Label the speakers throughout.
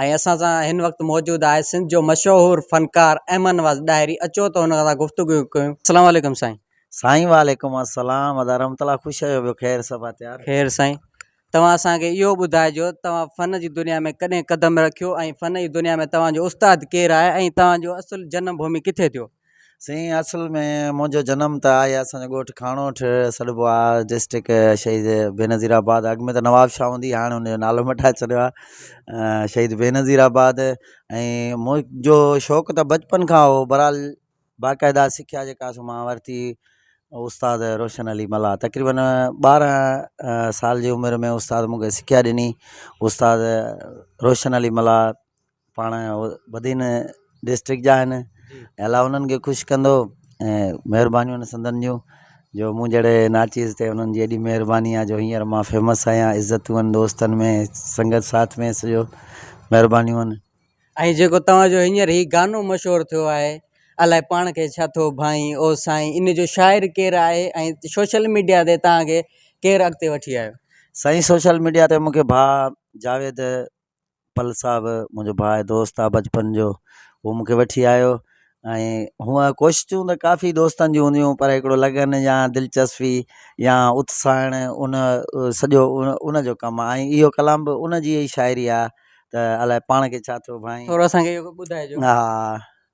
Speaker 1: ۽ اسان سان هن وقت موجود آهي سنڌ جو مشهور فنڪار احمد نواز ڏاهري اچو ته هن سان گفتگو ڪيون اسلام عليڪم سائين. سائين وعليڪم
Speaker 2: السلام ادا رحمت الله خوش آهيو ٻيو خير سڀ آ تيار. خير سائين
Speaker 1: توهان اسان کي اهو ٻڌائجو توهان فن جي دنيا ۾ ڪڏهن قدم رکيو ۽ فن جي دنيا ۾ توهان جو استاد ڪير آهي ۽ توهان جو اصل جنم ڀومي ڪٿي ٿيو. سائين اصل
Speaker 2: ۾ منهنجو جنم ته آهي اسان جو ڳوٺ کاڻوٺ سڏبو آهي ڊسٽرڪٽ شهيد بينظير آباد اڳ ۾ ته نواب شاهه هوندي هاڻي ان جو نالو مٽائي ڇڏيو آهي شهيد بينظير آباد ۽ منهنجو شوق ته بچپن کان هو برحال باقاعده سکيا جيڪا سو مان ورتي استاد روشن علي ملا تقريبن ٻارهن سال جي عمر ۾ استاد مونکي سکيا ڏني استاد روشن علي ملا پاڻ بدين ڊسٽرڪٽ جا آهن الا انهن کي خوش ڪندو ۽ مهربانيون آهن سندن جون جو مون جهڙي ناچيز تي انهن جي ايڏي مهرباني آهي جو هينئر مان فيمس آهيان عزتون آهن دوستن ۾ سنگت ساٿ ۾ سڄو مهربانيون آهن ۽ جيڪو توهان
Speaker 1: جو هينئر هي گانو مشهور ٿيو آهي الاء پاڻ کي ڇا ٿو ڀائين او سائين ان جو شاعر ڪير آهي ۽ سوشل ميڊيا تي توهان کي ڪير اڳتي وٺي آيو سائين سوشل
Speaker 2: ميڊيا تي مون کي ڀاء جاويد پل صاحب منهنجو ڀاء دوست آ بچپن جو هو مونکي وٺي آيو ۽ هونء ڪوششون ته ڪافي دوستن جون هونديون هيون پر هڪڙو لگن يا دلچسپي يا اتساهڻ ان سڄو ان جو ڪم آ ۽ اهو ڪلام به ان جي ئي شاعري آ ته الائي پاڻ کي ڇا ٿيو ڀائين ٿورو اسان کي ٻڌائجو
Speaker 1: ها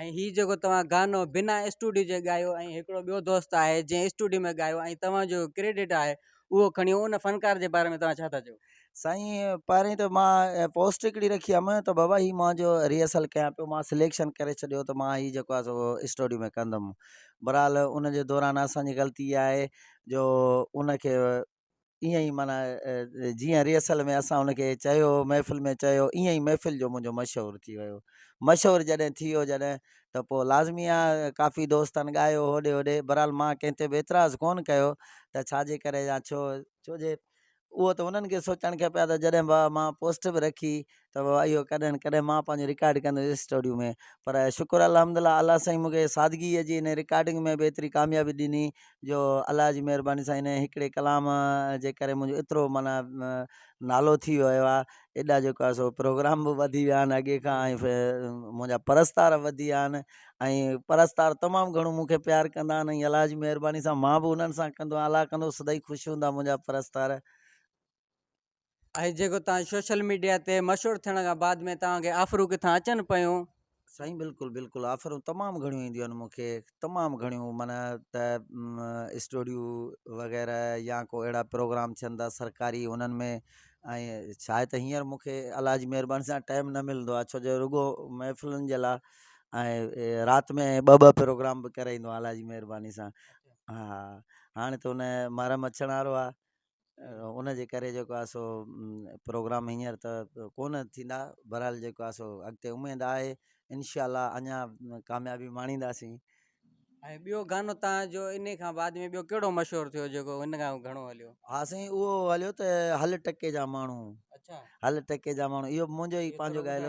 Speaker 2: ۽
Speaker 1: هي جيڪو توهان گانو بنا اسٽوڊيو جي ڳايو ۽ هڪڙو ٻيو دوست آهي جنهن اسٽوڊيو ۾ ڳايو ۽ توهان جو ڪريڊٽ آهي اهو کڻي ان فنڪار جي باري ۾ توهان ڇا ٿا چئو سائين پهرين
Speaker 2: ته مان پوسٽ هڪڙي رکي هيم ته بابا هي مان جو ريهرسل ڪيان پيو مان سليڪشن ڪري ڇڏيو ته مان هي جيڪو آهي سو اسٽوڊيو ۾ ڪندم برحال ان جي دوران اسان جي غلطي اها آهي جو ان کي ائين ئي معنيٰ جيئن ريهرسل ۾ اسان ان کي چيو محفل ۾ چيو ائين ئي محفل جو منهنجو مشهور ٿي ويو مشهور جڏهن ٿي ويو جڏهن ته پوء لازمي آ ڪافي دوستن ڳايو هوڏي هوڏي برحال مان ڪنهن تي به اعتراض ڪون ڪيو ته ڇا جي ڪري يا ڇو ڇو جي اهو ته انهن کي سوچڻ کپي ها ته جڏهن مان پوسٽ به رکي ته بابا اهو ڪڏهن نه ڪڏهن مان پنهنجو رڪارڊ ڪندس اسٽوڊيو ۾ پر شڪر الحمد لله الله سائين مونکي سادگيء جي ان رڪارڊنگ ۾ به ايتري ڪاميابي ڏني جو الله جي مهرباني سان ان هڪڙي ڪلام جي ڪري منهنجو ايترو معنيٰ نالو ٿي ويو آهي ايڏا جيڪو آهي سو پروگرام به وڌي ويا آهن اڳي کان ۽ منهنجا پرستار وڌي ويا آهن ۽ پرستار تمام گهڻو مونکي پيار ڪندا آهن ۽ الله جي مهرباني سان مان به انهن سان ڪندو آهيان الله ڪندو سدائين خوش هوندا منهنجا پرستار
Speaker 1: ۽ جيڪو تان سوشل ميڊيا تي مشھور ٿيڻ کان بعد ۾ توھان کي آفرون ڪٿان اچن پيون. سائين بلڪل
Speaker 2: بلڪل آفرون تمام گھڻيون اينديون آھن مونکي تمام گھڻيون من ته اسٽوڊيو وغيره يا ڪو اھڙا پروگرام ٿين ٿا سرڪاري انھن ۾ ۽ شايد ته ھينئر مونکي الله جي مھرباني سان ٽائيم نه ملندو آھي ڇو جو رڳو محفلن جي لا ۽ رات ۾ ٻه ٻه پروگرام به ڪرائيندو آھيان الله جي مھرباني سان ھا ھاڻي ته ان محرم اچڻ وارو آھي ان جي ڪري جيڪو آهي سو پروگرام هينئر ته ڪون ٿيندا بهرحال جيڪو آهي سو اڳتي اميد آهي انشاء الله اڃا ڪاميابي ماڻينداسين ۽
Speaker 1: ٻيو گانو تان جو ان کان بعد ۾ ٻيو ڪهڙو مشهور ٿيو جيڪو ان کان گهڻو هليو ها سائين اهو
Speaker 2: هليو ته هل ٽڪي جا ماڻهو اچھا هل
Speaker 1: ٽڪي جا
Speaker 2: ماڻهو اهو منهنجو ئي پنهنجو ڳايل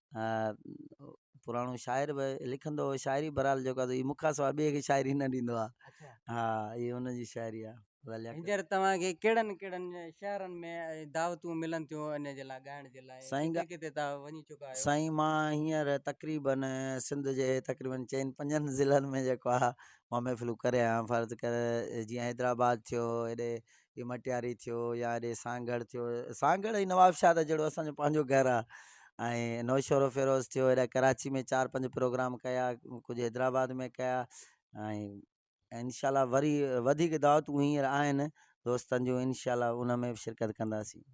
Speaker 2: پراڻو شاعر به لکندو هو شاعري برحال جيڪو هي مون کان سواء ٻئي کي شاعري نه ڏيندو آ ها هي هن جي شاعري آ هينئر توهان
Speaker 1: کي ڪهڙن ڪهڙن شهرن ۾ دعوتون ملن ٿيون ان جي لاء ڳائڻ جي لاء ڪٿي ڪٿي توهان وڃي
Speaker 2: چڪا
Speaker 1: آهيو سائين مان هينئر
Speaker 2: تقريبن سنڌ جي تقريبن چئن پنجن ضلعن ۾ جيڪو آ مان محفلون ڪري آيو آهيان فرض ڪر جيئن حيدرآباد ٿيو هيڏي جي مٽياري ٿيو يا اڏي سانگهڙ ٿيو سانگهڙ ۽ نوابشاهه ته جهڙو اسانجو پنهنجو گهر آ ۽ نوشهرو فيروز ٿيو اهڙا ڪراچي ۾ چار پنج پروگرام ڪيا ڪجهه حيدرآباد ۾ ڪيا ۽ انشاء الله وري وڌيڪ دعوتون هينئر آهن دوستن جون انشاء الله ان ۾ به شرڪت ڪنداسين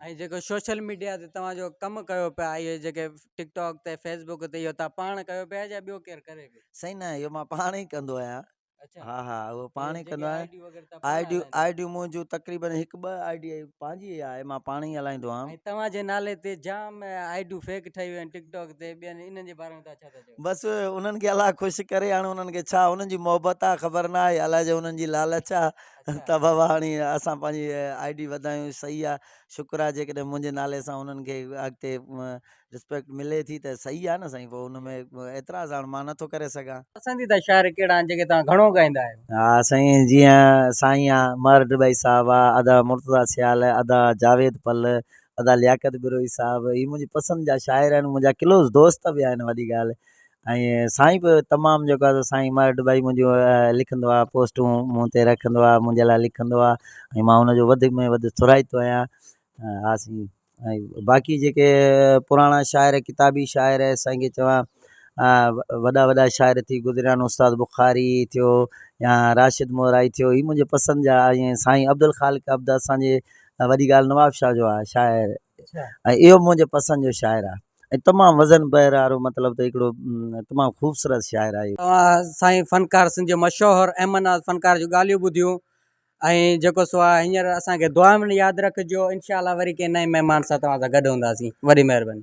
Speaker 1: ۽ جيڪو سوشل ميڊيا تي توهان جو ڪم ڪيو پيا اهي جيڪي ٽڪ ٽاڪ تي فيسبوڪ تي اهو تان پاڻ ڪيو پيا يا ٻيو ڪير ڪري پيو سائين نه اهو مان پاڻ
Speaker 2: ئي ڪندو آهيان اچا ها
Speaker 1: ها اهو پاڻ
Speaker 2: ئي ڪندو آهي
Speaker 1: آئي
Speaker 2: ڊي
Speaker 1: آئي ڊي منهنجو تقريبن
Speaker 2: هڪ ٻه آئي ڊي پنهنجي ئي آهي مان پاڻ ئي هلائيندو آهيان توهان جي نالي تي
Speaker 1: جام آئي ڊيون فيڪ ٺهيون آهن ٽڪ ٽاڪ تي ٻين انهن جي باري ۾ ڇا ٿا چيو بس انهن کي الله
Speaker 2: خوش ڪري هاڻي انهن کي ڇا انهن جي محبت آ خبر نه آهي الاء جو انهن جي لالچ آ ته بابا هاڻي اسان پنهنجي آئي ڊي وڌايون صحيح آ شڪر آ جيڪڏهن منهنجي نالي سان انهن کي اڳتي رسپيڪٽ ملي ٿي ته صحيح آ نه سائين پوء ان ۾ اعتراض هاڻ مان نٿو ڪري سگهان. پسنديده شاعر ڪهڙا
Speaker 1: آهن جيڪي توهان گهڻو ڳائيندا آهيو؟ ها سائين جيئن
Speaker 2: سائين مهر ڊٻائي صاحب آ، ادا مرتضيٰ سيال، ادا جاويد پل، ادا لياقت بروهي صاحب هي منهنجي پسند جا شاعر آهن منهنجا ڪلوز دوست به آهن وڏي ڳالهه ۽ سائين به تمام جيڪو آ سو سائين مهر ڊٻائي منهنجو لکندو آ پوسٽون مون تي رکندو آ منهنجي لاء لکندو آ ۽ مان ان جو وڌ ۾ وڌ ٿورائتو آهيان ها سائين. ۽ باقي جيڪي پراڻا شاعر ڪتابي شاعر سائين جي چوان وڏا وڏا شاعر ٿي گذريا آهن استاد بخاري ٿيو يا راشد مورائي ٿيو هي منهنجي پسند جا ائين سائين عبدالخالق عبد اسانجي وڏي ڳالهه نوابشاهه جو آهي شاعر ۽ اهو منهنجي پسند جو شاعر آهي ۽ تمام وزن بحر وارو مطلب ته هڪڙو تمام خوبصورت شاعر آهي سائين فنڪار
Speaker 1: سنڌ جو مشهور احمد ناز فنڪار جو ڳالهيون ٻڌيون ۽ جيڪو سو آ هينئر اسان کي دعائن ۾ ياد رکجو انشاء الله وري ڪنهن نئين مهمان سان توهان سان گڏ هونداسين وڏي مهرباني.